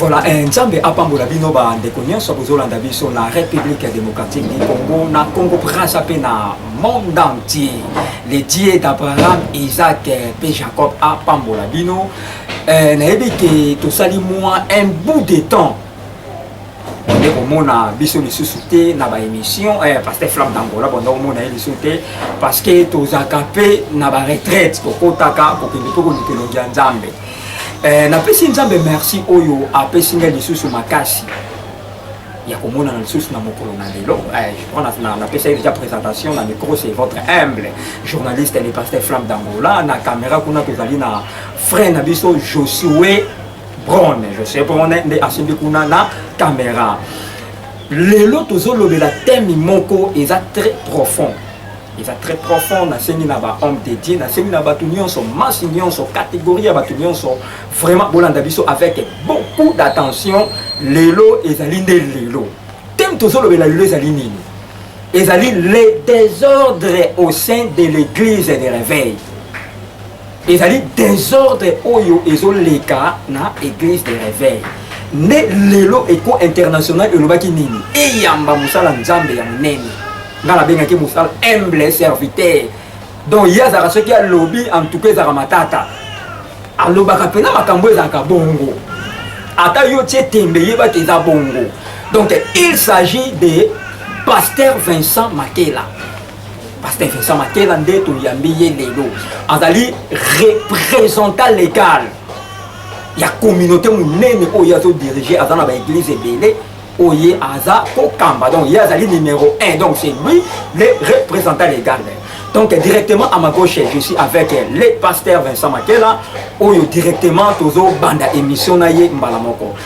Voilà, eh, Nzambe apambola bino ba ndeko nyonso bozolanda biso na République démocratique du Congo, na Congo Brazza pe na monde entier. Le Dieu d'Abraham, Isaac eh, pe Jacob apambola bino. Eh, nayebi ke tosali mwa un bout de temps bonde komona biso lisusu te na baémission eh, pasteur flamme d'angola bonde komona ye lisusu te parce que tozalaka mpe na baretraite kokotaka kokende mpe koluka elongi ya nzambe eh, napesi nzambe merci oyo apesi ngai lisusu makasi ya komonana lisusu na mokolo na lelo eh, je crois napesaki déjà présentation na micro c'est votre humble journaliste le pasteur flamme d'angola na caméra kuna tozali na frère na biso josue Brone, je sais Brone nde asimbi kuna na camera. Lelo tozolobela thème moko eza très profond. eza très profond nasengi na bahomme de dieu nasengi na bato nyonso masse nyonso catégorie ya bato nyonso vraiment bolanda biso avec beaucoup d'attention lelo ezali nde lelo teme tozolobela lelo ezali nini ezali le désordre au sein de l'église de réveil ezali desordre oyo ezoleka na eglise de reveil nde lelo eko international elobaki nini eyamba mosala nzambe ya monene ngai nabengaki mosala humble serviteur donc ye azalaka soki alobi en tout cas ezalaka matata alobaka mpena makambo ezalaka bongo ata yo tie tembe yeba te eza bongo donc il s'agit de pasteur vincent makela Pasteur Vincent Makela nde toyambi ye lelo azali représentant légal ya communauté monene oyo azo diriger aza na ba église ebele oye aza kokamba donc ye azali numéro 1 donc c'est lui le représentant légal donc directement à ma gauche je suis avec le pasteur Vincent Makela oyo directement tozobanda émission na ye mbala moko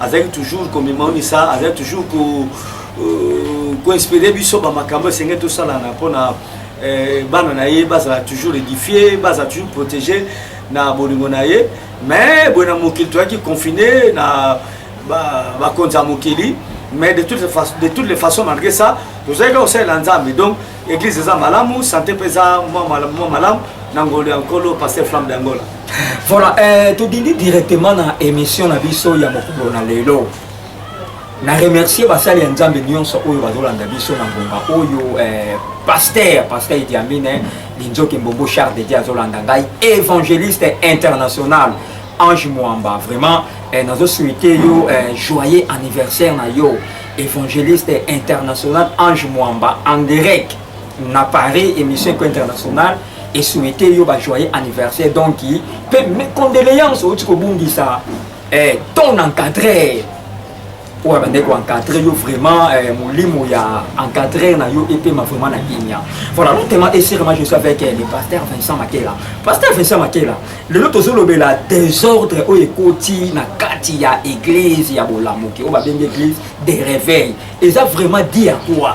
azali toujours komimonisa azali toujours ko euh, koinspire biso bamakambo esengeli tosalana mpona euh, bana na ye bazala toujours édifie bazala toujours protégé na bolingo na ye mais boye na mokili toyaki confine na bakonzi ya mokili mais de toutes les façons malgré ça tozalaki kosalela nzambe donc Eglise eza malamu, sante mpe eza mwa malamu na ngolu ya nkolo Pasteur Flamme d'Angola. Voilà, eh, todindi directement na émission na biso ya mokolo na lelo. Na remercier basali ya Nzambe nyonso oyo bazolanda biso na ngonga oyo eh, Pasteur, Pasteur Idi Amin, eh, Linzoke Mbombo Charles de Dieu azolanda ngai, évangéliste international. Ange Mwamba vraiment eh, nazo souhaiter yo eh, joyeux anniversaire na yo évangéliste international Ange Mwamba en direct na Paris émission ko internationale et souhaiter yo ba joyeux anniversaire donc pe mes condoléances au tiko bundisa eh, ton encadré oyo abandaki koencadre yo vraiment eh, molimo ya encadrer na yo epema vraiment na kimia voilà lotema esirema je suis avec eh, le pasteur vincent makela pasteur vincent makela lelo tozolobela désordre oyo ekoti na kati ya église ya bolamuki oyo babengi église de réveil eza vraiment dit ya quoi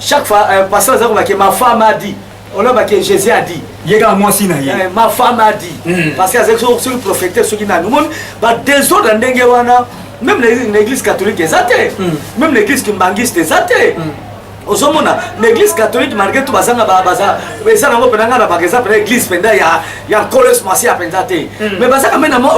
Chaque fois, euh, pasteur Zako va que ma femme a dit. On a que Jésus a dit. Il y a moi aussi, euh, ma femme a dit. Mm. Parce que c'est ce que prophétesse, ce qui n'a nous. Bah, des autres, wana, même l'église catholique est athée. Mm. Même l'église kimbangiste est athée. Mm. ozomona na église catholique malgré tout bazanga baza eza nango mpenza ngai na baka eza mpenza église mpenza ya ya nkolos masia mpenza te mm. mais bazaka mpe na mwa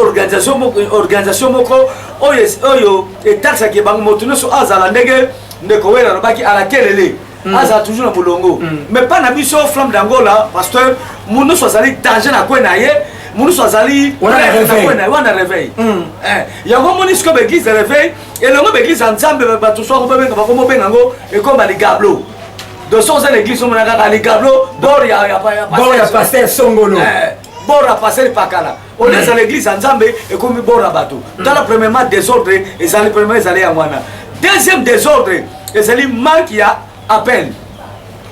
organisation moko oyo oyo etaxaki bango moto nyonso azala ndenge ndeko wele alobaki ala kelele mm. azala toujours na molongo mm. mais pas na biso flamme d'angola parce que monusu azali danger na kwe na ye monusu azali wana réveil mm. eh, yango omoni sikoyo baeglise ya réveil elongo baeglise ya nzambe bato soko babenga bako mobenga yango ekoma ligablo doso oza na eglise omona kaka ligablo bor ya pasteur songolo eh, bor ya pasteur pakala olesa na eglise ya nzambe ekomi bora bato mm. tala premièrement désordre ezali premièrement ezali yango wana deuxième désordre ezali manque ya appel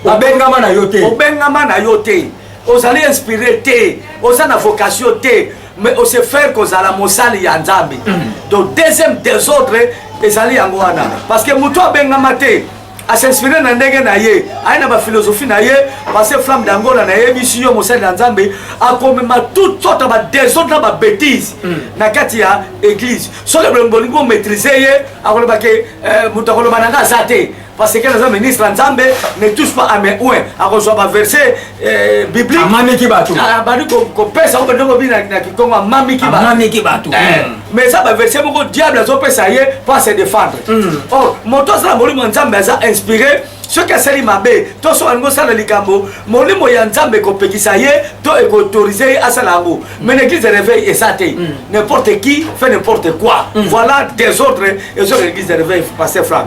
babengama na yo te obengama na yo te ozali inspiré te oza na vocation te mais ose faire kozala mosali ya nzambe mm. donc deuxième désordre ezali yango wana parce que moto abengama te a s'inspire na ndenge na ye aye na bafilosophie na ye parce flamme d'angola nayebisi yo mosali na nzambe akomema tout sorte badesordre na babétise hmm. na kati ya église soki bolingi bomaîtrise ye akoloba ke eh, moto akoloba na nga aza te parce que naza ministre ya nzambe ne touche pas à mes oin akozwa baverse Eh, biblique amamiki bato ah, abandi kopesa yango bende kobi na kikongo amamiki amamiki bato eh, hmm. mais eza baverse moko diable azopesa ye mpo ase défendre hmm. or oh, moto azala molimo ya nzambe aza inspiré soki asali mabe to soki alingi osala likambo molimo ya nzambe ekopekisa ye to ekoautorize ye asala yango hmm. mais l'église de réveil eza te n'importe qui fait n'importe quoi voilà désordre ezoka l'église de réveil passe franc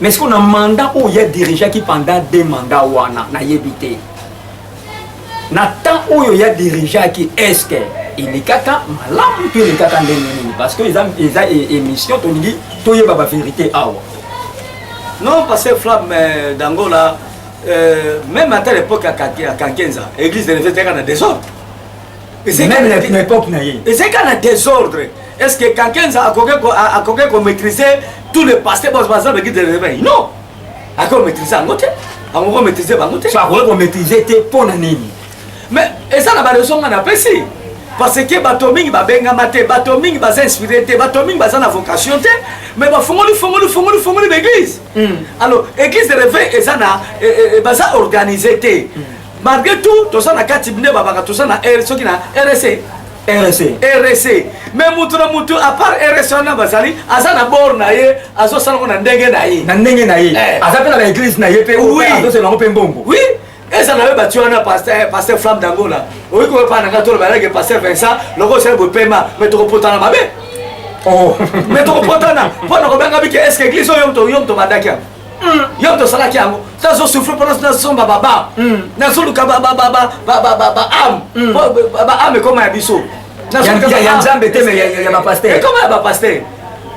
mais sikoyo na mandat oyo ya dirigeaki pendant deux mandat wana nayebi te na temps oyo ya dirigeaki eske elekaka malamu to elekaka ndenge nini parce que eza, eza e, émission tolingi toyeba baverité awa non parce que flamme euh, dangola euh, même ata l'époque ya kankenza église de levete eka na desordre meme na epoque na ye ezeka na désordre est ce que kankenza akoki komaîtrise tout le passé baza beki de réveil non akoki komaîtrise yango te akoki komaîtrise bango te akoki komaîtrise te mpo na nini mais eza na baleson nga napesi parce que bato mingi babengama te bato mingi baza inspiré te bato mingi baza na vocation te mais bafongoli fongoli fongoli fongoli baeglise hmm. alors église de réveil eza na eh, eh, eh, baza organise te hmm. malgré tout toza na kati nde babaka toza na r soki na rsa rsa rsa mais motu na motu apart rsa wana bazali aza na bor na ye azosalango na ndenge na ye na ndenge na ye eh. aza mpe na baeglise na ye mpe azoselango mpe mbongo oui eza na yo bati wana paster eh, flamme dangola oyoki koyepaa na ngai tolo bayalaki paster vincent loko osali bopema mais tokopotana mabe oh. mais tokopotana mpo na kobenga bike eske eglise oyo yo moto obandaki yango yo tosalaki yango nazo souffre mpona nasomba baba nazoluka baame baame ekoma ya biso ya nzambe te ya bapaster ekoma ya bapaster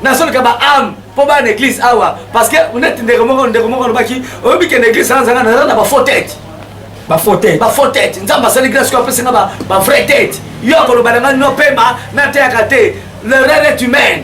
nazoluka baame mpo bana na église awa parce que neti ndeko moko ndeko moko alobaki oyebi kende église anzanga naza na bafaux tete bafaux tete bafaux tete nzambe asali grâce ko apesi nga bavrai tete yo akoloba na nga nopema nateyaka te l'erreur est humaine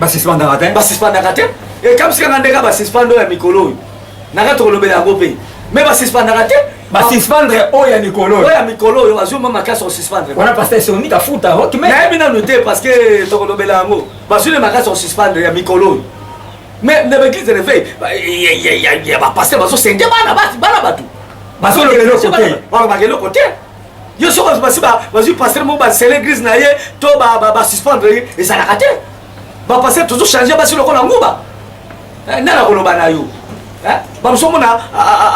basuspendaka te basuspendaka te ekamsika nga ndeka basuspende oyo ya mikolo oyo naka tokolobela yango mpe me basuspendaka te basuspendre oyo ya mikolo oyo ya mikolo oyo bazwi mwa makasi kosuspendre wana pasteur soni kafuta okime nayebi nanu te parce que tokolobela yango bazwi ne makasi kosuspendre ya mikolo oyo mais na baeglise de réveil ya bapasteur bazosenge bana bana bato bazolobela eloko te yo soki basi bazwi pastere moko basele eglise na ye to basuspendre ye ezalaka te bapastere tozo change basi lokola nguba eh, nani akoloba na yo eh, bamosu omona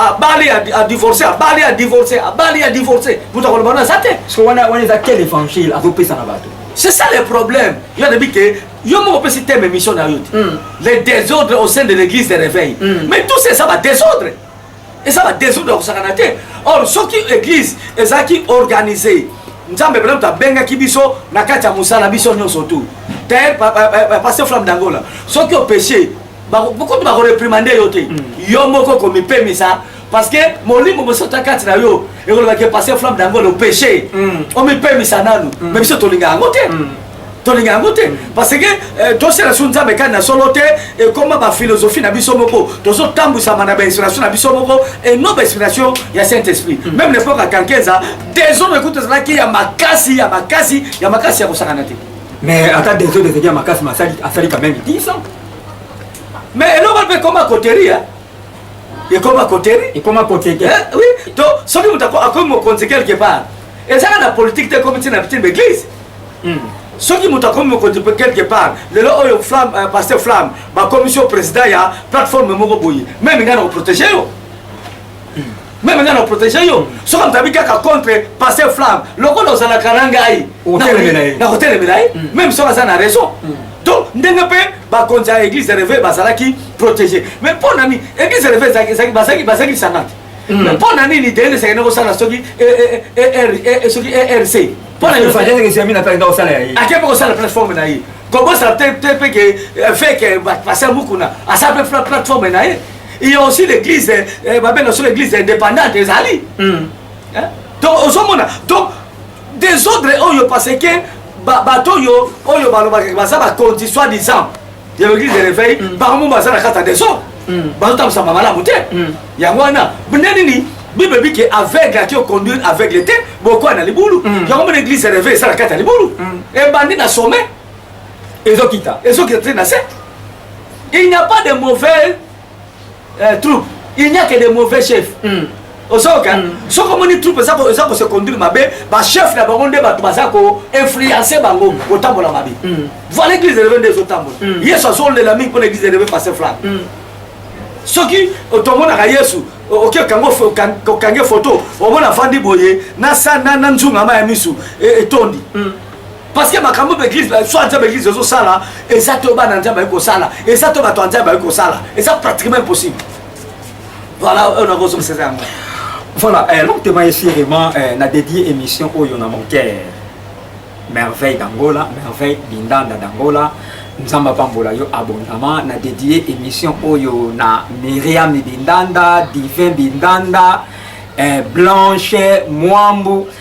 abali adivorce abali adivorce abali adivorce moto akoloba wana aza te wana eza quel évangile azopesa na bato c'est ça le problème yo anabi ke yo moko opesi teme émission na yo te hmm. le désordre au sein de l'église de réveil hmm. mais tout c'est ça badésordre eza ba desordre kosakana te or soki église ezalaki organise nzambe mpena moto abengaki biso na kati ya mosala biso nyonso tu te paster flamme dangola soki opeche kutu bakoreprimande yo te mm. yo moko komipemisa parce que molimo mosota kati na yo ekolobaki paster flamme dangola opeche mm. omipemisa nanu me mm. biso tolingaka yango te tolinga yango te parce que euh, tosala so nzambe kani na solo te ekoma baphilosophie na biso moko tozotambwisama na bainspiration na biso moko et non bainspiration ya saint esprit mm. même lepoque ya kankeza desordre ekuti ezalaki ya makasi ya makasi ya makasi ya kosakana te mais ata desordre ezalaki ya makasi masali asali quand même 10 ans mais eloko mpe ekoma koterie ekoma koterie ekoma kotete eh, oui to soki moto akomi mokonzi quelque part ezaka na politique te ekomi ntina na bitina baeglise Hmm. soki moto akomi mokonzi mpe quelque part lelo oyo flamme euh, paster flamme bakomisi yo président ya plateforme moko boye meme ngai na koprotege yo hmm. meme ngai na koprotege yo soki moto abi kaka contre paster flamme lokola ozalaka na ngai na kotelemela ye hmm. meme soki aza na raison donc ndenge mpe bakonzi ya église reve bazalaki protégé mais mpo na nini église reve bazalaki lisanga te mpo na nini dende esakende kosala soki erc pona yo fanya ndenge siami na pele ndako sala ya ye ake poko sala plateforme na ye kobo sala te te pe ke euh, fait que ba passer mukuna asa pe plateforme na ye il y a aussi l'église euh, ba bela sur l'église indépendante ezali hmm. hein? donc ozomona donc des ordres oyo parce que bato oyo oyo balobaka baza bakonzi soit disant ya l'église de réveil mm. bango baza na kati ya desordre mm. bazotambwisama malamu te mm. yango wana nde nini bible ebi ke aveugle ati oconduire aveugle te bokoya na libulu yango mona église de réveil eza na kati ya libulu ebandi na sommet ezokita ezokita te na se il n'y a pas de mauvais eh, troupe il n'y a que des mauvais chefs mm. ozoyoka mm. soki omoni troupe eza ko se conduire mabe bachef na bango nde bato baza ko influence bango kotambola mm. mabe mm. voilà église eleve nde ezotambola mm. yesu azolela mingi mpona église eleve passe flamme mm. soki tomonaka yesu oke okange foto omona afandi boye na nzungama ya misu etondi e mm. parce que makambo baeglise soit disant baeglise ezosala eza to bana nzambe aye kosala eza to bato ya nzambe aye kosala eza pratiquement impossible voilà oyo nakozongisa eza yango voilà eh, longtemps esi vraiment eh, na dédié émission oyo na mon cœur merveille d'angola merveille bindanda d'angola nzambe apambola yo abondama na dédié émission oyo na miriam bindanda divin bindanda eh, blanche mwambu eh,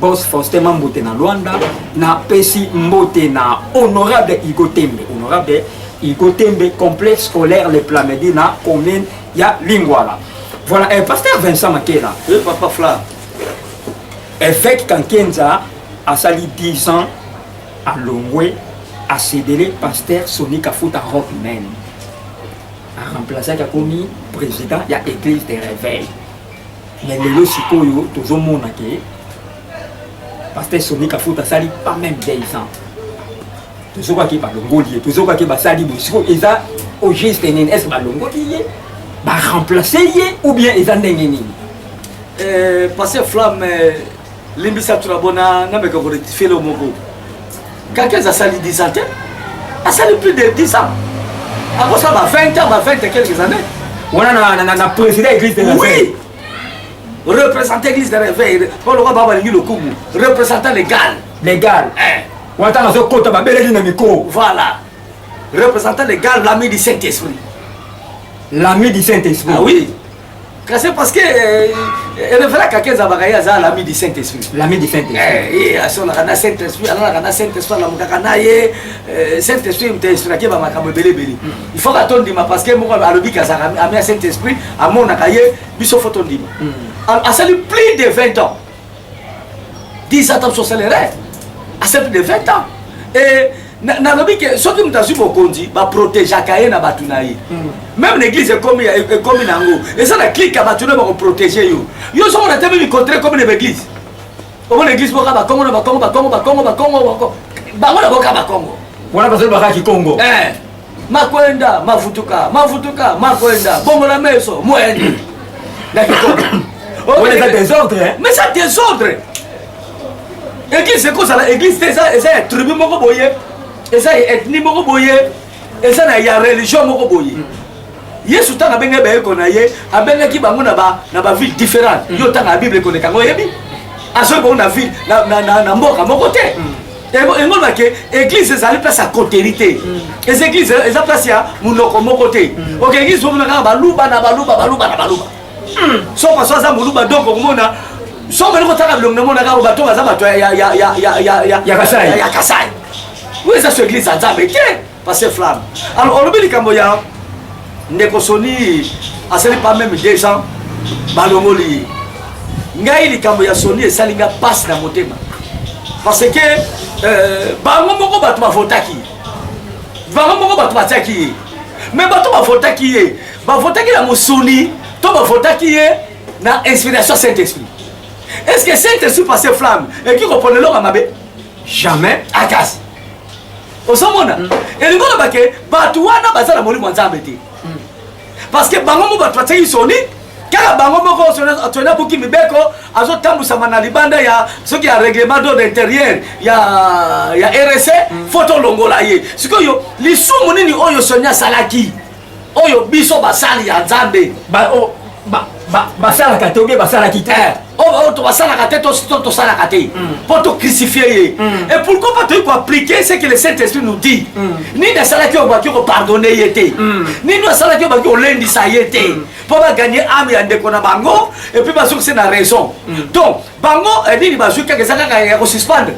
Boss Faustin Mambote na Luanda na pesi mbote na honorable Igo Tembe honorable Igo Tembe complexe scolaire les Plamedi na commune ya Lingwala voilà eh, pasteur Vincent Makela oui, papa Fla évêque Kankenza asali 10 ans à Longwe à Cédélé pasteur Sony Kafuta Rock Man a remplacé Kakomi président ya église des réveils Mais lelo sikoyo tozomona ke pasteur Sony Kafuta asali pas même deux ans tozokaki balongoli ye tozokaki basali boye sikoyo eza au juste nini est ce balongoli ye baremplace ye ou bien eza ndenge nini euh, pasteur flamme euh, limbisa tuna bona nameka ko rectifier le moko kakez asali 10 ans te asali plus de 10 ans akosala ba 20 ans ba 20 quelques années wana na, na, na, na président église de oui représentant église de réveil mpo lokola baa balingi lokumu représentant légal légal eh. wana ntango azokota babeleli na mikro voilà représentant légal l'ami du saint esprit l'ami du saint esprit ah, oui kasi parce que erevelaka ke ezabaka ye aza lami du saint esprit lami du saint esprit asolaka na saint esprit alalaka na saint esprit alamukaka na ye saint esprit moto inspirake ba makambo ebele ebele il faut ka tondima parce que moko alobi ke azaka ami ya saint esprit amonaka ye biso fo tondima asali plus de 20 ans 10 ans tabiso osala erreur asa plus de 20 ans et nalobi ke soki moto azwi bokonzi baprotegeaka ye na bato na ye mm. meme na église ekomi ekomi na yango eza na clike ya bato na bakoprotege yo yo soki onatemi mikontre ekomi na baeglise omona église boka bakongo na bakongo bakongo bakongo bakongo bango na boka bakongo wana bazali bakaki kongo eh. makwenda mavutuka mavutuka makwenda bongola meso mwendi na kikoma oyo eza desordre mais ça desordre église ekozala église te eza ya tribu moko boye eza ya ethnie moko boye eza na ya religion moko boye yesu ntango abengaki bayeko na ye abengaki bango na baville différente yo ntango ya bible ekoleka yango oyebi azoki bango na ville na mboka moko te mm. yango loba ke église ezali place ya coterie te mm. eza église eza place ya monoko moko te mm. ok église bomona kaka baluba na baluba baluba na baluba mm. soka so aza moluba donc okomona so omeli kotala bilongi namonaka oyo bato baza bato ya kasai oyo eza so église ya nzambe te Pasteur Flamme. Alors, on oublie likambo ya ndeko Sony asali pas même 200 balongoli. Ngai likambo ya Sony esali nga passe na motema. Parce que euh, bango moko bato bavotaki. Bango moko bato batiaki ye. Mais bato bavotaki ye. Bavotaki na mosuni to bavotaki ye na inspiration Saint-Esprit. Est-ce que Saint-Esprit passe flamme et qui comprenait l'homme à ma Jamais. Akas. ozomona mm. elingi oloba ke bato wana baza na molimo ya nzambe te mm. parce que bango mo bato batiaki soni kaka bango moko toni abuki mibeko azotambwisama na libanda ya soki ya règlement d'ordre intérieur ya, ya rsa mm. fo tolongola ye sikoyo lisumu nini oyo soni asalaki oyo biso basali ya nzambe basalaka te obie basalaki te eh, oyo oh, basalaka te tosalaka te mpo mm. tocrucifie ye mm. et pourquoi pas toyei koappliquer ce que le saint esprit nous dit mm. nini asalaki oyo baki kopardonne ye te nini oyo asalaki oyo baki kolendisa ye te mpo baganye ame ya ndeko na bango epuis bazokise na raison donc bango eh, nini bazwi kaka eza kaka ya kosuspendre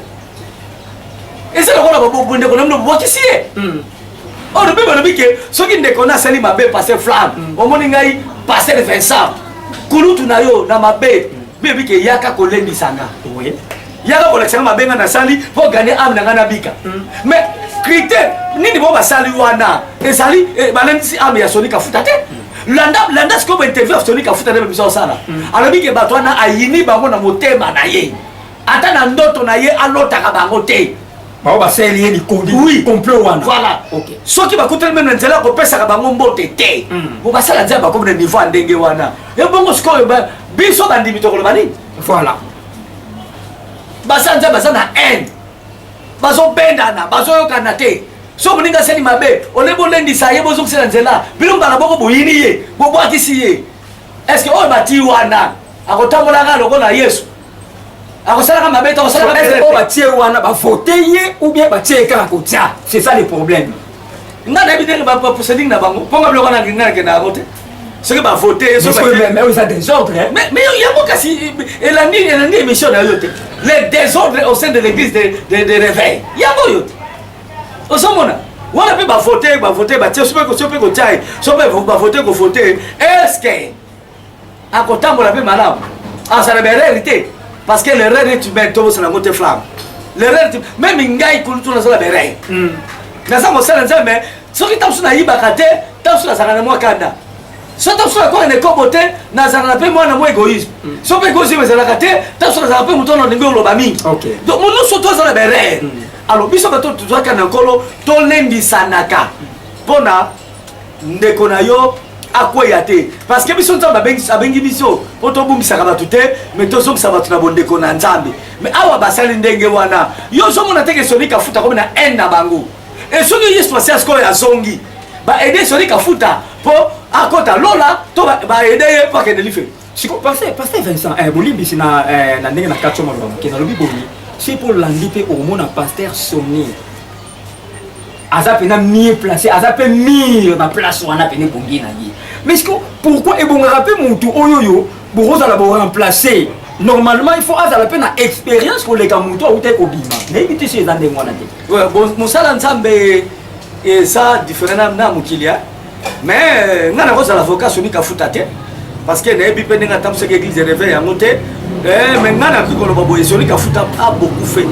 eza lokola baboko ndeko na mino bobwakisi ye oyo oh, lobi balobi ke soki ndeko na asali mabe passe flamme mm. omoni ngai passe le vincent kulutu na yo na mabe bebi ke yaka kolendisa nga yaka kolakisa nga mabe nga nasali mpo gane ame na nga nabika mm. mais critère nini bo basali wana ezali eh, balendisi ame ya soni kafuta te mm. landa landa sikoyo bainterview ya soni kafuta nde bebisa osala alobi ke bato wana ayini bango na motema na ye ata na ndoto na ye alotaka bango te bango basaleli ye likodi oui. complot wana voilà. okay. soki bakutani meme na nzela ya kopesaka bango mbote te mm. bo basala nzela bakomi na niveau ya ndenge wana ebongo sikoyo biso bandimi tokoloba nini voilà basala nzela baza na haine bazobendana bazoyokana te so moninga asali mabe ole bolendisa ye bozongisela nzela bino mbala boko boyini ye bobwakisi ye estce oyo batii wana akotambolaka lokola yesu akosalaka mabe to akosalaka mabe oyo batie wana bavote ye ou bien batie ye kaka kotia c'est ça le problème nga nayebi ndenge baprocéding na bango mpo nga biloko na ngai nakenda yango te soki bavote ye eza désordre mais yango kasi elandi elandi émission na yo te le désordre au sein de l'église de réveil yango oyo te ozomona wana mpe bavote bavote batie so mpe kotia ye so mpe bavote kovote eske akotambola mpe malamu azala berere te parce que l'erreur est humaine tobosana yango te flamme l'erreur meme ngai kulutu nazala berere hmm. naza mosala nzambe mais soki ntango mosusu nayibaka te ntango mosusu nazalaka na mwa kanda so ntango mosusu nakoka na ekobo te nazalaka mpe mwana mwa égoïsme hmm. so mpe égoïsme ezalaka te ntango mosusu nazalaka mpe moto wana olingi oloba mingi donc monusu to azala berere hmm. alors biso bato tozwaka na nkolo tolendisanaka mpo na ndeko na yo akweya te parce que biso nzambe abengi biso mpo tobumbisaka bato te me tozongisa bato na bondeko na nzambe me awa basali ndenge wana yo ozomona te kesoni kafuta komi na haine na bango e soki yesu asi asikoyo azongi baede soni kafuta mpo akota lola to baede ye mpo akende life sikoyo paster paster vincent eh, bolimbisi na eh, ndenge na kati yo maloba moke nalobi boye si mpo olandi mpe omona paster soni aza pena mieux placé aza pe mire na place wana pene ebongi na ye mais siko pourquoi ebongaka pe mutu oyo oyo bokozala boremplace normalement il faut azala pe na expérience koleka mutu awuta ekobima nayebi te so eza ndenge wana te mosala nzambe eza different na mokili mais nga nakozala avocat somi kafuta te parce que nayebi mpe ndenge atambusaki église de réveil yango te eh, mais nga nakoki koloba boye somi kafuta a beaucoup fait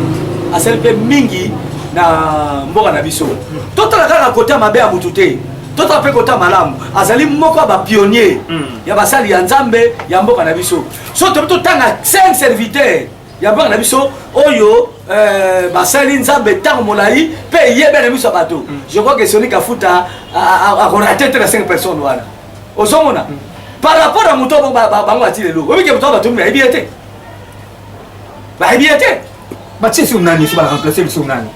asali mpe mingi na mboka na biso totala kaka kota mabe ya motu te totala mpe kota malamu azali moko ya bapionnier hmm. ya basali ya nzambe ya mboka na biso so tobi totanga cinq serviteur ya bana na biso oyo euh, basali nzambe ntango molai mpe eyebe na miso ya bato mm. je crois que soni kafuta akorate te na 5 personne wana ozomona mm. par rapport na moto bango bati lelo oyebike moto batomi bayebi ye te bayebi ye te batie sur nani so baremplace biso nani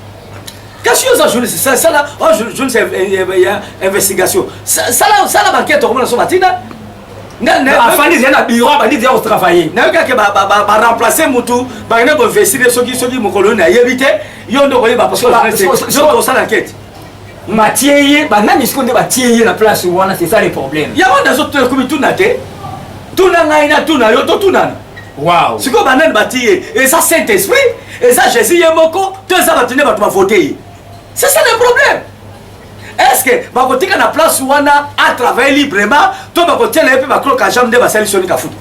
kasi yo oza journaliste sala oh, journaliste ya investigation sala bankete okomona so batina afandi zia na biro abandi zia kotravaille nayoki ake baremplace mutu bakende koinvestire soki soki mokolo oyo nayebi te yo nde okoyeba parceosala kete batie ye banani siko nde batie ye na place wana c'est ça le problème yango nazokomi tuna te tuna ngai na tuna yo totunana wow. sikoyo banani batie ye eza saint esprit eza jésus ye moko to eza bato nde bato bavote ye c'est ça le problème eske bakotika na place wana atravaille librement to bakotiela ye mpe baclo kajam nde basali soni kafuta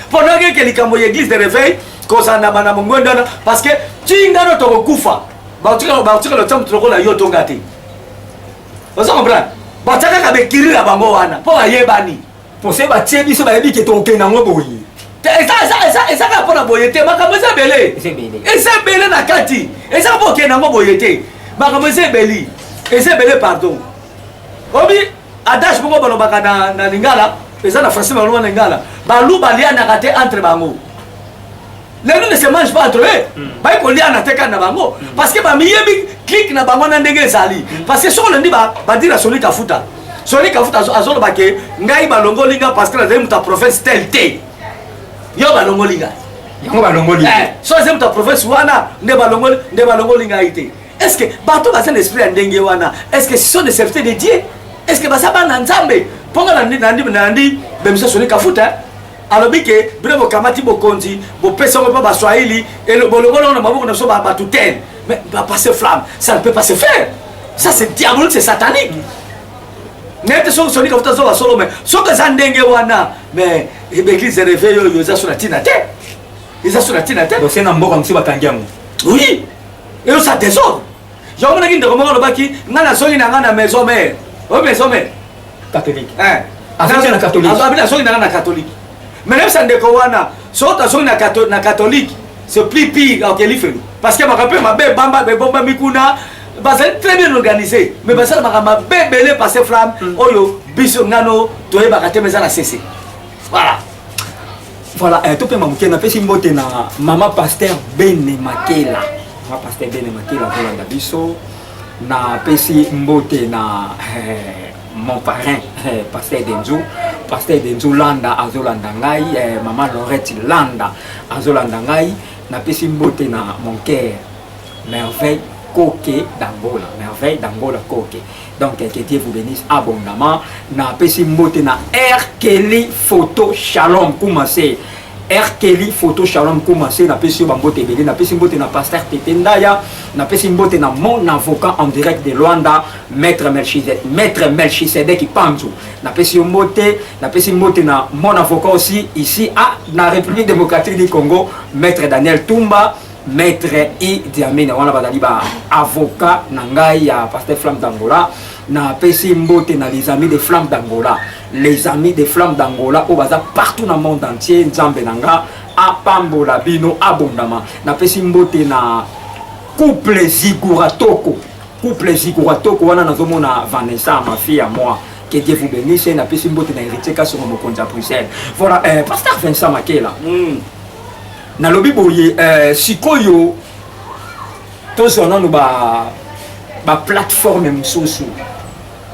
mpo nageke likambo ya église de réveil kozala na bana mongwende wana parce que tingano tokokufa bakotika lotia moto lokola yo tonga te oza comprendre batia kaka bekiri na bango wana mpo bayebani pose batie biso bayebi ke tokokende yango boye ezaka mpona boye te makambo eza ebele eza ebele na kati eza mpo okende yango boye te makambo eza ebeli eza ebele pardon obi adage moko balobaka na, na lingala eza na français baloba na lingala balu balianaka te entre bango les gens ne se mangent pas entre eux mm. baye koliana te kani na bango mm. parce que bamiyebi clique na bango na ndenge ezali mm. parce que soki olandi badira soni kafuta soni kafuta azoloba ke ngai balongoli nga parce que nazali moto ya province tel te yo balongoli ngai yango balongoli eh, so azali moto ya province wana nde balongoli nde balongoli ngai te est ce que bato baza na esprit ya ndenge wana est ce que ce sont des serviteurs de dieu est ce que baza bana nzambe mpo nga nandi bemisa soni kafuta alobi ke bino bokamati bokonzi bopesi yango mpo baswahili bolongoli yango na maboko na biso batutele mais bapase flamme ça ne peut pas se faire ça c'est diabolique c'est satanique nete soki sonika futa zoba solo me soki eza ndenge wana mais baeglise eh, réveil oyo eza so na ntina te eza so na ntina te se na mboka mosusu bakangi yango oui eyosa désordre Je omonaki ndeko moko alobaki ngai nazongi na ngai na maison mère. Oyo maison mère. Catholique. Eh. Azongi na catholique. Azongi na zongi na ngai na catholique. Mais nayebisa ndeko wana soki tozongi na catholique na catholique c'est plus pire okeli felo parce que makambo mpe mabe ebamba ebombami kuna bazali très bien organisé mais basala makambo mabe ebele passe flamme oyo biso ngano toyebaka te mais eza na sese voilà Voilà, eh, topema moke napesi mbote na mama pasteur Bene Makela. Mama pasteur Bene Makela kolanda biso. Napesi mbote na eh, mon parrain eh, pasteur Denzo. Pasteur Denzo Landa azolanda ngai, eh, mama Lorette Landa azolanda ngai. Napesi mbote na mon cœur Merveille Koke d'Angola. Merveille d'Angola Koke. Donc, que Dieu vous bénisse abondamment. Na pesi mbote na R. Kelly Photo Shalom Koumassé. R. Kelly Photo Shalom Koumassé. Na pesi yo bambote ebele. Na pesi mbote na Pasteur Tete Ndaya. Na pesi mbote na mon avocat en direct de Luanda. Maître Melchizedek. Maître Melchizedek Ipanzu. Na pesi yo mbote. Na pesi mbote na mon avocat aussi ici à la République démocratique du Congo. Maître Daniel Tumba. Maître I Diamina wana bazali ba avocat na ngai ya Pasteur Flamme d'Angola na pesi mbote na les amis de Flamme d'Angola les amis de Flamme d'Angola oyo baza partout na monde entier nzambe na nga apambola bino abondama na pesi mbote na couple Zigura Toko couple Zigura Toko wana nazomona Vanessa ma fille à moi que Dieu vous bénisse na pesi mbote na héritier kasi mokonzi ya Bruxelles voilà euh, pasteur Vincent Makela mm. nalobi boye eh, sikoyo tozwa nano ba baplateforme mosusu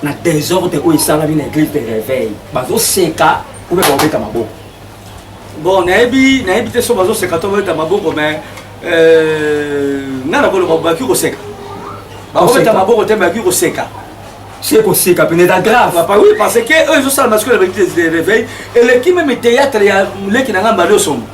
na desordre oyo esalami na église de réveil bazoseka obe baobeta maboko bon nayebi nayebi te so bazoseka to babeta maboko mais euh, nga na koloba baki koseka bakobeta maboko te baki koseka se koseka pene eza grave papa oui parce que oyo ezosalama sikoyo na baeglise de réveil eleki meme théâtre ya leki na nga mbali osombo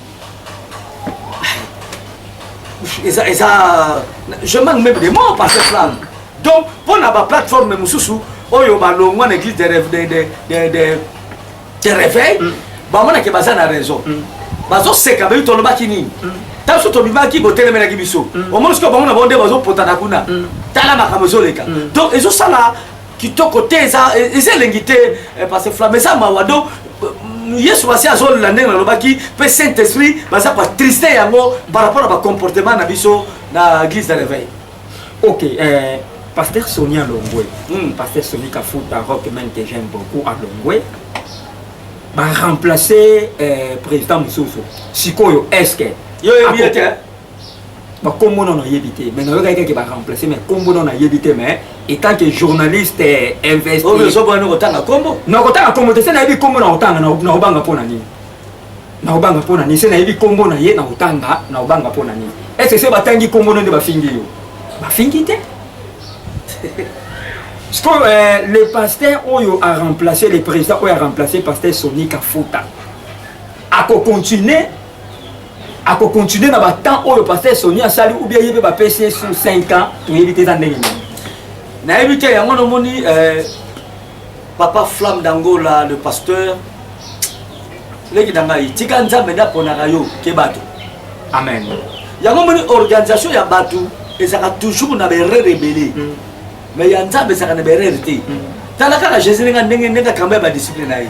eza eza je manque même des mots par ce plan donc mpo na baplateforme mosusu oyo balongwa na église de, de, de, de, de, de réveil mm. bamonake baza na raison mm. bazoseka bayi tolobaki nini mm. ntango biso tobimaki botelemelaki biso mm. omoni sikoyo bango na bango nde bazopotana kuna mm. tala makambo ezoleka mm. donc ezosala kitoko te eza eza elengi te eh, parce que flamme eza mawa donc euh, yesu masi azolela ndenge nalobaki mpe saint esprit baza batriste yango par rapport na bacomportement na biso na église de réveil ok euh, pasteur soni alongwe mm. pasteur soni kafuta rock man que j'aime beaucoup alongwe baremplace euh, président mosusu sikoyo est ce que yo yebi ete ba kombo non nayebi te mais nayoka kaka ba remplacer mais kombo non nayebi te mais étant que journaliste eh, investi oyo oh, so bwana kotanga kombo na kotanga kombo te se nayebi kombo na kotanga na obanga pona nini na obanga pona nini se nayebi kombo na ye na kotanga na obanga pona nini est ce que batangi kombo nonde bafingi yo bafingi te sikoyo eh, le pasteur oyo a remplacer le président oyo a remplacer pasteur soni kafuta akocontinue ako continuer na ba temps oyo pasteur Sony asali ou bien yebe ba PC sur 5 ans to yebi te za ndenge nini na yebi te yango no moni euh, papa flamme d'angola le pasteur leki na ngai tika nzambe nde aponaka yo ke bato amen yango moni organisation ya bato ezalaka toujours na baerreur ebele mm. mais ya nzambe ezalaka na baerreur te mm. tala kaka jésus ndenge ndenge akamba ya badisciple na ye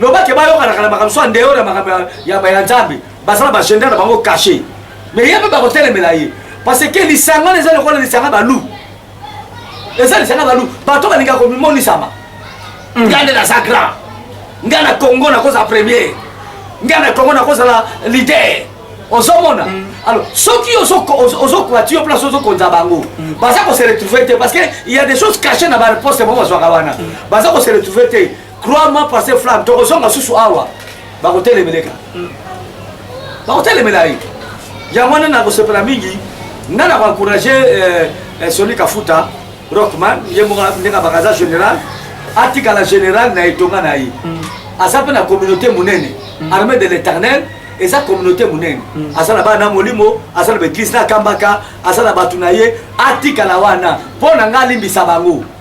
loba ke bayokanaka na makambo so andeyore ya makambo ya nzambe baza na bagenda na bango kashe me ye mpe bakotelemela ye parce que lisanga wana eza lokola lisanga balu eza lisanga balu bato balingaka komimonisama mm. ngai nde naza grand ngai na congo nakozala premier ngai na congo nakozala lider ozomona mm. alors soki ozokwati yo place ozokonza bango mm. baza kose retrouve te parce que il y a des choses cachées na bareponse bango bazwaka wana baza kose retrouve te crois moi pasteur flamme tokozonga susu awa bakotelemeleka mm. bakotelemela ye yango wana nakosepela mingi nga na koencourage eh, eh, soni kafuta rockman ye moko ndenge abaka aza général atikala général na etonga na ye mm. aza mpe na communauté monene mm. armée de l'éternel eza communauté monene mm. aza na bana na molimo aza na baeglise na kambaka aza na bato na ye atikala wana mpo na ngai alimbisa bango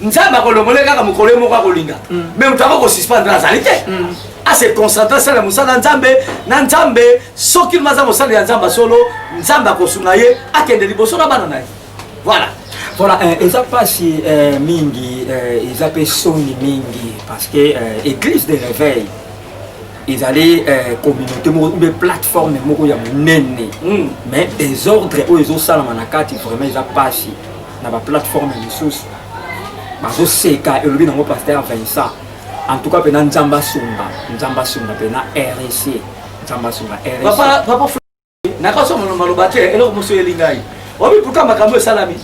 nzambe akolongole kaka mokolo ye moko akolinga mm. me moto ako kosuspendre azali te mm. ase ah, concentre asala ya mosala ya nzambe na nzambe soki lima aza mosali ya nzambe solo nzambe akosunga ye akende liboso na bana na ye voilà voilà eh, eza mpasi eh, mingi eh, eza mpe soni mingi parce que église de réveil ezali euh, communauté moko oube plateforme moko ya monene mm. mais desordre oyo ezosalama na kati vraiment eza mpasi na ba plateforme misusu bazoseka elobi nango paster Vincent en tout cas pena nzambe asunga nzambe asunga pena RSC nzambe asunga RSC nakasoma maloba te eloko mosusu eyeli ngai obi pourkui makambo esalami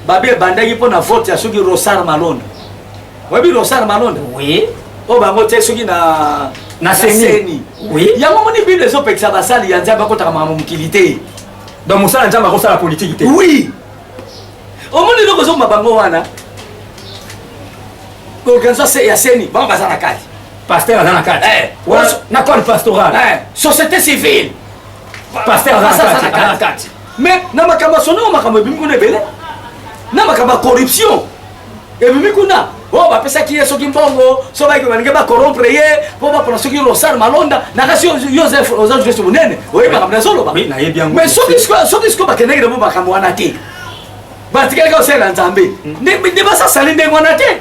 babe ebandaki mpo na vote ya soki rosar malonda oyebi rosar malonda oui oyo bango te soki na na seni oui yango moni bible ezopekisa basali ya nzambe akotaka makambo mokili te Donc mosala nzambe akosala politiki te. Oui. Omoni eloko ezokoma bango wana organisation ya seni bango baza na kati. Pasteur aza na kati. Eh, na corps pastoral. Eh, société civile. Pasteur aza na kati. Mais na makambo ya sonoma makambo ebimi kuna ebele. Na makambo ya corruption. ebimi kuna oyo oh, bapesaki ye soki mbongo so baike balingi bakorompre ye mpo bapona soki rosar malonda na kasi yosef oza jeste monene oyebi makambo nazoloba mais soki sikoyo bakendeki namo makambo wana te batikalaki osalela nzambe hmm. nde basasali ndenge wana te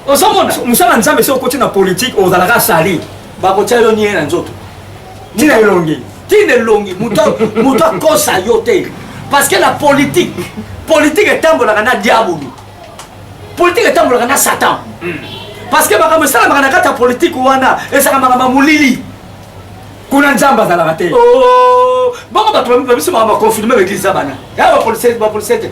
ozomona mosala nzambe soki okoti na politike ozalaka sali Bakotia yo nie na nzoto. Tina elongi. Tina elongi. Moto akosa yo te. Parce que la politique, politique etambolaka na diabulu. Politique etambolaka na Satan. Hmm. Parce que makambo esalamaka na kati ya politique wana ezalaka makambo ya molili. kuna nzambe azalaka te oh, bango bato babiso makambo baconfirme baeglise za bana ya bapolisie te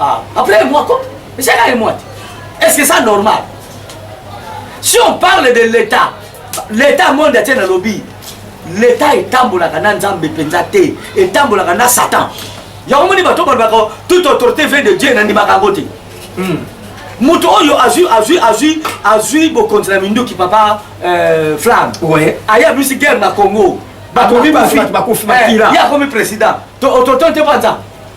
Ah, après moi, quoi Mais c'est là moi. Est-ce que ça normal Si on parle de l'État, l'État monde est un lobby. L'État est tambolaka na nzambe penza te, est tambolaka na Satan. Yango moni bato balobaka toute autorité vient de Dieu na ndimaka yango te. Hmm. moto oyo azwi azwi azwi azwi bokonzi na minduki papa euh, flamme ouais. aye abimisi guerre na congo bakomi bafi ye akomi président totonte mpanza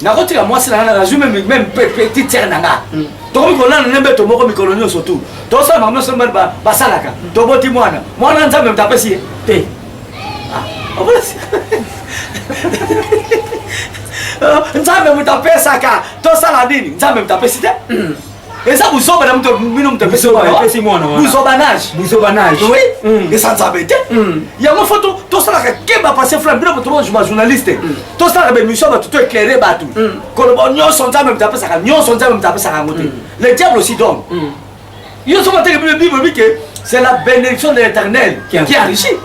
nakotika mwasi nanga nazwi meme petite sere na nga hmm. tokomi kolala ne mbeto moko mikolo nyonso tu tosala makambo nyonso mbani basalaka hmm. toboti mwana mwana nzambe moto apesi ye te ah, nzambe moto apesaka tosala nini nzambe moto apesi te hmm. eza buzoba na moto bino moto apesi buzobanage buzobanage oui mm. eza nzambe te mm. yango fo tosalaka keba pase fula bino moto bajournaliste mm. tosalaka baémission bato to éclaire bato koloba nyonso nzambe moto apesaka nyonso nzambe moto apesaka yango te le diable aussi donc yo soki ateke bino bible bike c'est la bénédiction de l'éternel qui enrichit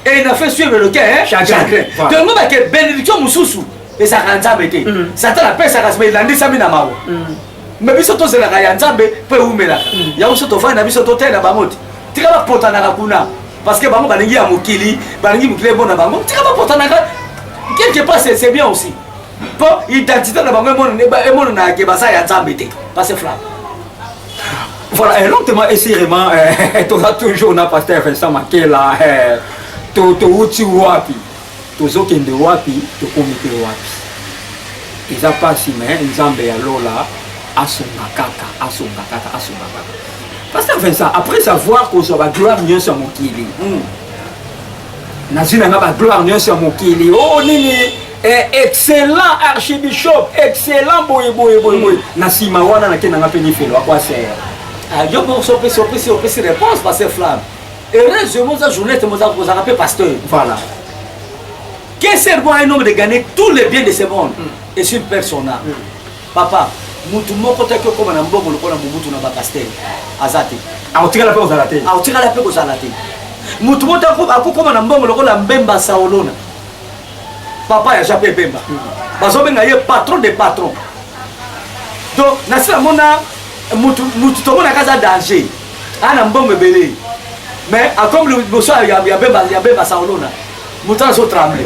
et il a fait suivre le cœur chagrin tongo bake bénédiction mosusu ezalaka nzambe te satana apesaka sima elandisami na mawa me biso tozelaka ya nzambe mpo ewumelaka mm. yango biso tovandi na biso totali na bango te tika bapotanaka kuna parce que bango balingi ya mokili balingi mokili ebona bango tika bapotanaka quelque part c'est bien aussi mpo identité na bango emonanaka ke baza ya nzambe te parce flamme Voilà, et lentement et sûrement, eh, tu as toujours n'a pas fait ça, ma là, eh, tu as wapi. Tozokende wapi tokomi pe wapi eza pasi me nzambe ya lola asunga kaka asunga kaka asunga kaka pasteur vincent après avoir kozwa bagloire nyonso ya mokili hmm. nazwi na nga bagloire nyonso ya mokili o oh, nini eh, excellent archibishop excellent boye boye boye boye na nsima wana nake na nga mpe nifelo akwasere ah, yo moko sopesi opesi opesi réponse pasteur flamme Heureusement, ça journée, tu m'as rappelé pasteur. Voilà. Qu'est ce bon un homme de gagner tous les biens de ce monde mm. et sur personne. Mm. Papa, mutu moko te kokoma na mbongo lokola mobutu na bapastere aza te akotikala mpe kozala te akotikala mpe kozala te mutu moko te akokoma na mbongo lokola mbemba saolona papa ya jape ebemba mm. bazobenga ye patron de patron donc nasi namona mutu tomonaka aza danger ana mbongo ebele mais akomi liboso ya bemba saolona moto azo tremble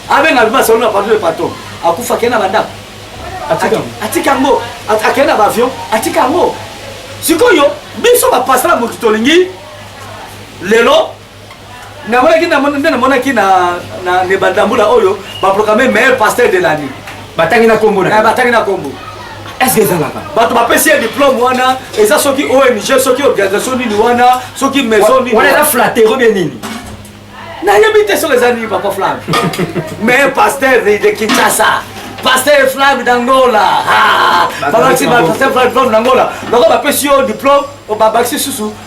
abenga bemba saolona pardon le patron akufa akei na bandako atika yango akei na baavion atika yango sikoyo biso bapasala moto tolingi lelo namonaki nde namonaki na nebanda mbula oyo baproclame meilleur pasteur de l'année batangi na nkombo na eh, batangi na nkombo eske ezalaka bato bapesi ye diplome wana eza soki ong soki organisation nini wana soki maison nini wana eza flatero bie nini nayebi te soki eza nini papa flamme mais pasteur de kinshasa pasteur flamme d'angola babakisi pasteur flamme d'angola loko bapesi yo diplome babakisi susu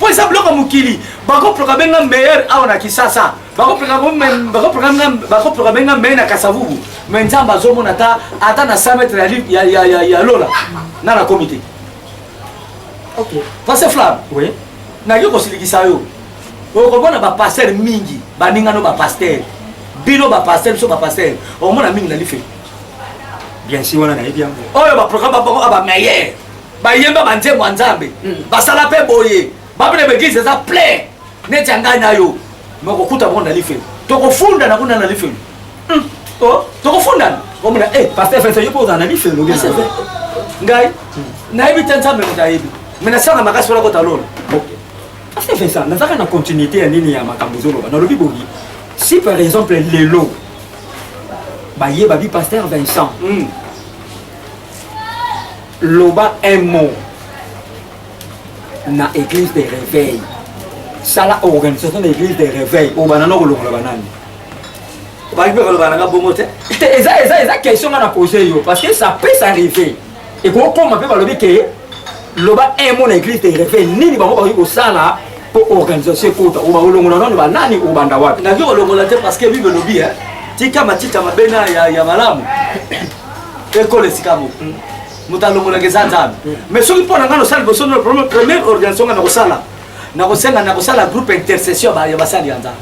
po eza biloko mokili bakoproka benga meilleur awa na kisasa bakoproka benga meilleur na kasavubu me nzambe azomona ata ata na 100 metre ya, ya, ya, ya lola na na komite okay. pase flam oui. naki kosilikisa yo okomona bapaster mingi baningano bapaster bino bapaster biso bapaster okomona mingi na life bien si wana nayebi yango oyo baprogramme babango abameilleur bayemba banzembo ya nzambe basala mpe boye bapene baeglise eza plein neti ya ngai na yo me okokuta bango na lifelo tokofundana kuna na lifelo hmm. oh, tokofundana omona e eh, paster fefe yo mpo ozala na lifelo ngai nayebi te nzambe moto ayebi me nasanga makasi wana kota lola paster fefe nazaka na continuité ya nini ya makambo ezoloba nalobi boyi si par exemple lelo baye babi paster vincent hmm. loba un mot na église de réveil sala organisation na église de réveil oyo banana okolongola banani bakoki mpe koloba nanga bongo te te eza eza eza question nga na pose yo parce que ça peut s'arriver ekokoma mpe balobi ke loba un mot na église de réveil nini bango bakoki kosala mpo organisation ekota oyo bakolongola nano banani obanda wapi nakoki kolongola te parce que bible elobi tika matita mabe na ya malamu ekolo esika moko moto alongolaka eza nzambe mais soki mpo na ngai nosala liboso no problème première organisation ngai nakosala nakosenga nakosala groupe intercession ya basali ya nzambe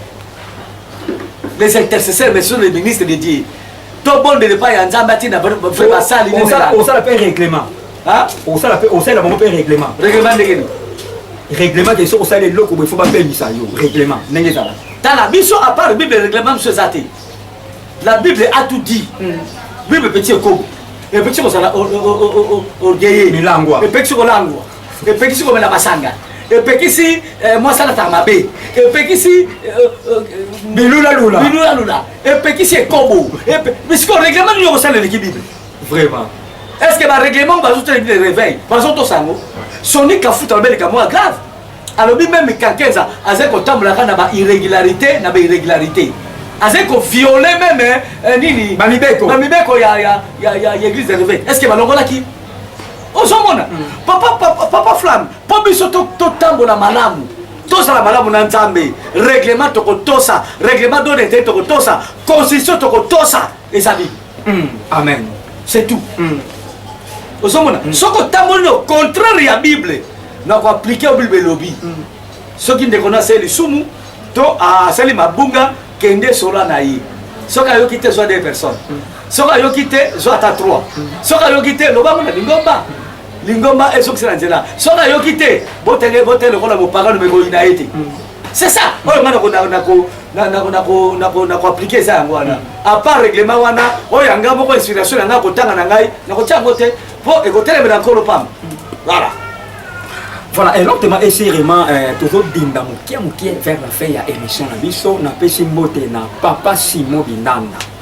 les intercesseurs mais sur le ministre de dieu tobondela epai ya nzambe atina vrai basali osala mpe règlement osala mpe osalela bango mpe règlement règlement ndenge nini règlement te soki osali eloko boye fo bapemisa yo règlement ndenge ezalaka tala biso apart bible règlement biso eza te La Bible a tout dit. Mm. Bible petit ekobo. Epekisi kozala orgueilleux. Milangwa. Epekisi kolangwa. Epekisi komela masanga. Epekisi eh, mwasi alataka mabe. Epekisi eh, eh, bilula lula. Bilula lula. Epekisi ekobo. Mais sikoyo règlement nini okosala eleki Bible? Vraiment. Est-ce que ba règlement bazo tele Bible réveil? Bazo tosango. Sonic afuta babeleka mwa grave. alobi meme Kankenza azali kotambolaka na ba irregularité na ba irregularité azali koviole meme eh, nini bamibeko bamibeko ya, ya, ya, ya, ya église réveil est ce que balongolaki ozomona mm. papa, papa, papa flamme mpo biso totambola to malamu tozala malamu na nzambe reglement tokotosa reglement donete tokotosa constitution tokotosa ezali mm. amen c'est tout mm. ozomona mm. soki otamboli na contraire ya bible na koaplike yo bible elobi mm. soki ndeko na asali lisumu to asali mabunga kende sola na ye soki ayoki te zwa de personne mm. soki ayoki te zwa ata 3 mm. soki ayoki te lobango na lingomba lingomba ezokisa na nzela soki ayoki te botenge botele lokola mopagano mekoyina ye te mm. c'est ça oyo nga nakoaplike eza yango wana apart règlement wana oyo yanga moko inspiration na ngai akotanga na ngai nakotia yango te mpo ekotelemela nkolo pamba voilà voilà elokte ma esi rema eh, tozodinda mokie mokie vers la fin ya émission na biso napesi mbote na papa simo binanda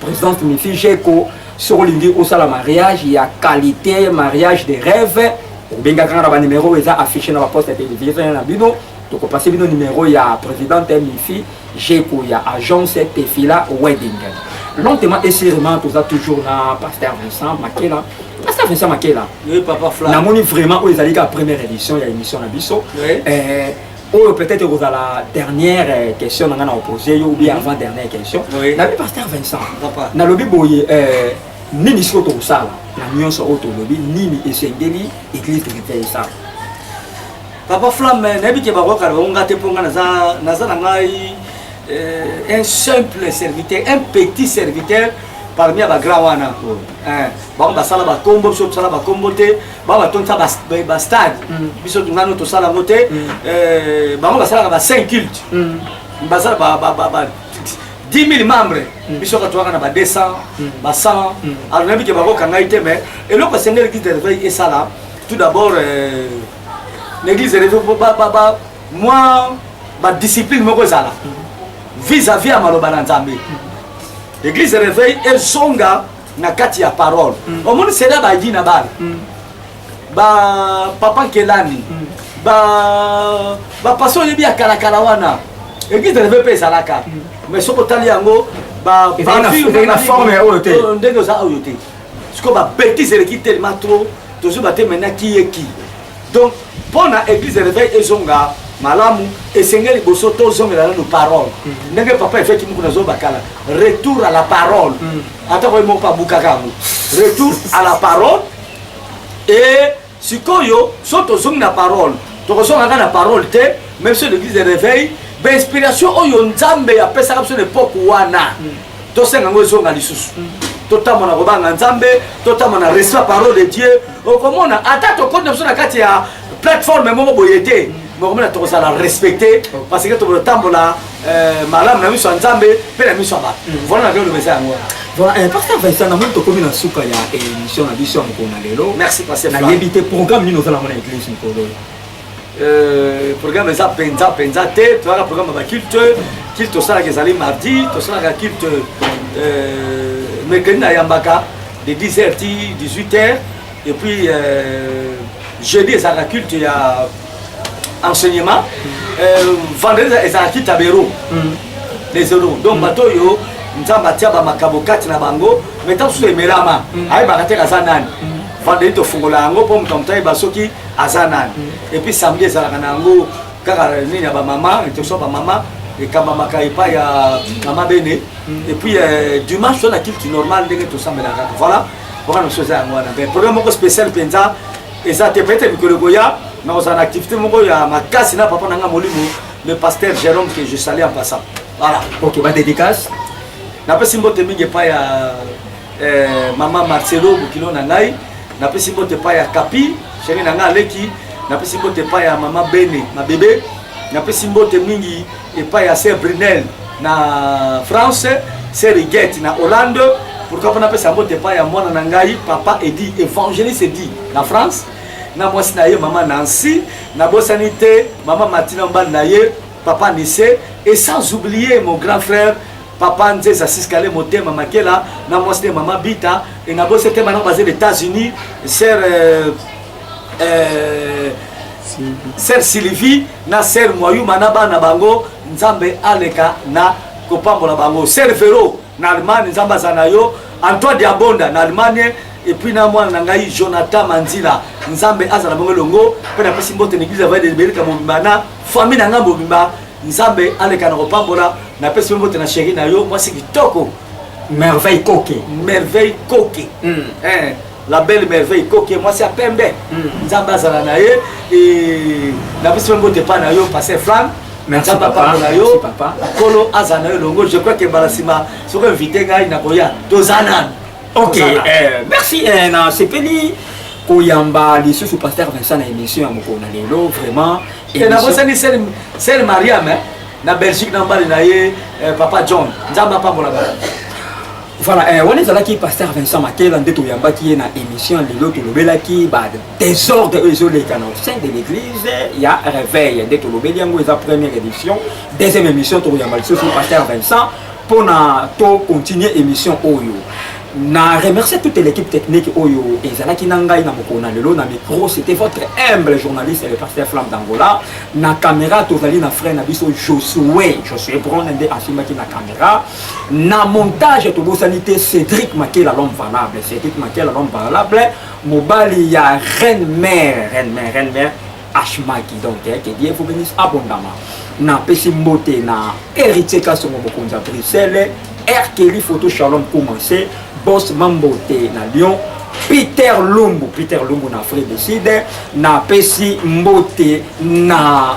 Presidente Mifi Jeko, soki olingi osala mariage ya qualité, mariage de rêve, obengaka nga na banimero oyo eza affiche na baposte ya televizio na bino tokopase bino nimero ya presidente Mifi Jeko ya agence Tefila Wedding. Lentement et sûrement, toza toujours na Pasteur Vincent Makela. Pasteur Vincent Makela. Oui, papa Fla. Namoni vraiment oyo ezali ka première édition ya émission na biso. Oui. Eh, oyo peut-être ekozala dernière euh, question na ngai na opose yo ou bien mhm. avant dernière question nabi pasteur vincent nalobi boye euh, nini sikoyo tokosala na nyonso oyo tolobi nini esengeli église tokita esala papa flamme euh, nayebi ke bakokala bango ngai te mpo ngai naza na ngai un simple serviteur un petit serviteur parmi ya bagrand wana bango basala bakombo biso tosala bakombo te bango batondisa bastade biso nano tosala yango te bango basalaka ba 5 culte basala 10 000 membres biso kaka toyaka na ba 200 ba 100 alors nayebi ke bakoka ngai te mais eloko esengeli église de réveil esala tout d'abord na église de réveil mwa badiscipline moko ezala vis-à-vis ya maloba na nzambe église de réveil ezonga na kati ya parole mm. omoni sela bagi na bana mm. ba papa nkelani mm. ba bapasi oyebi ya kalakala wana eglise eleve mpe ezalaka mm. mais soki otali yango na forme ya oyo te oh, ndenge oza oyo te sikoyo babetise eleki telema trop tozoba te maintenant kiye ki Donc mpo na église de réveil ezonga malamu esengeli liboso tozongela nanu parole mm. ndenge papa efeki moko na zoba kala retour à la parole mm. ata koye moko abukaka yango retour à la parole e sikoyo so tozongi na parole tokozonga kaka na parole te même so l'église de réveil bainspiration oyo nzambe apesaka biso na epoke wana mm. tosenga yango ezonga lisusu totamba na kobanga nzambe totamba na respect parole de dieu okomona ata tokoti na biso na kati ya plateforme moko boye te mokomona tokozala respecte parce que tokotambola euh, malamu na miso ya nzambe mpe na miso ya bato mm. vola na bioloba eza yango Voilà, eh, Pasteur Vincent, na moni tokomi na suka ya émission na biso ya mokolo na lelo. Merci Pasteur. Na yebi te programme nini oza na mona église mokolo. Euh, programme eza mpenza mpenza te toyaka programme ya baculte culte tosalaka ezali mardi tosalaka culte euh, mercredi nayambaka de 10 heures ti 18 heures et puis euh, jeudi ezalaka culte ya enseignement euh, vendredi ezalaka culte ya bero mm. les euros donc mm. bato oyo nzambe atia bamakabo kati na bango mai ntango susu emelama mm. ayebaka te kaza nani mm. vendredi tofungola yango mpo moto ya moto ayeba soki aza nani mm. epuis samedi ezalaka na yango kaka nini ya bamama etoso bamama ekambamaka epai ya mama bene mm. epuis euh, dimanche to na kilti normal ndenge tosambelaka kaka voilà wana mosusu eza yango wana mais problème moko spécial mpenza eza te peut-être mikolo ekoya nakozala na activité moko ya makasi na papa na ngai molimo le pasteur jérôme que je salue en passant voilà ok badédicace napesi mbote mingi epai ya eh, mama marcelo bokilo na ngai napesi mbote epai ya kapi sheri na ngai aleki napesi mbote epai ya mama bene mabebe napesi mbote mingi epai ya ser brunel na france ser rigete na hollande pourkui mpo napesa mbote epai ya mwana na ngai papa edi évangéliste edi na france na mwasi na ye mama nancy nabosani te mama martina mobali na ye papa nise et sans oublier mon grand frère Papa Nzeza Siskale Motema Makela na mwasi ne mama Bita e na bose te bana baze États-Unis sœur euh, euh, sœur Sylvie na sœur Mwayuma na bana bango Nzambe aleka na kopambola bango sœur Vero na Allemagne Nzambe aza na yo Antoine Diabonda na Allemagne epuis na mwana na ngai jonathan manzila nzambe azala bango elongo mpe napesi mbote na eglise ya vaide liberika mobimba na famille na ngai mobimba Nzambe aleka na kopambola na pesi yo mbote na sheri na yo mwasi kitoko merveille koke merveille koke mm. eh, la belle merveille koke mwasi ya pembe mm. nzambe azala na ye na pesi yo mbote epai na yo passe flamme nzambe apambola yo nkolo azala na yo elongo je crois ke mbala nsima soki invite ngai nakoya toza nani ok eh, merci eh, na sepeli koyamba lisusu pasteur vincent na émission ya mokolo na lelo vraiment nakosani sel mariam eh? na belgique na mbali na ye eh, papa john nzambe apambola bana voilà eh, wana ezalaki pasteur vincent makela nde toyambaki ye na émission lelo tolobelaki badésordre oyo ezoleka na sein de l'église ya réveil nde tolobeli yango eza première édition deuxième émission tokoyamba lisusu pasteur vincent Pour na to continuer émission oyo. Na remercie toute l'équipe technique oyo ezalaki na ngai na mokolo na lelo na micro c'était votre humble journaliste le pasteur Flamme d'Angola na caméra tozali na frère na biso Josué Josué Brown nde asimbaki na caméra na montage tobosani te Cédric Makela l'homme valable Cédric Makela l'homme valable mobali ya reine mère reine mère reine mère ashmaki donc eh, que dieu vous bénisse abondama napesi mbote na héritier kasongo mokonzi ya bruxelles r kelly photo shalom commence bos mambote na lyon peter lumbu peter lumbu na afrique du sud napesi mbote na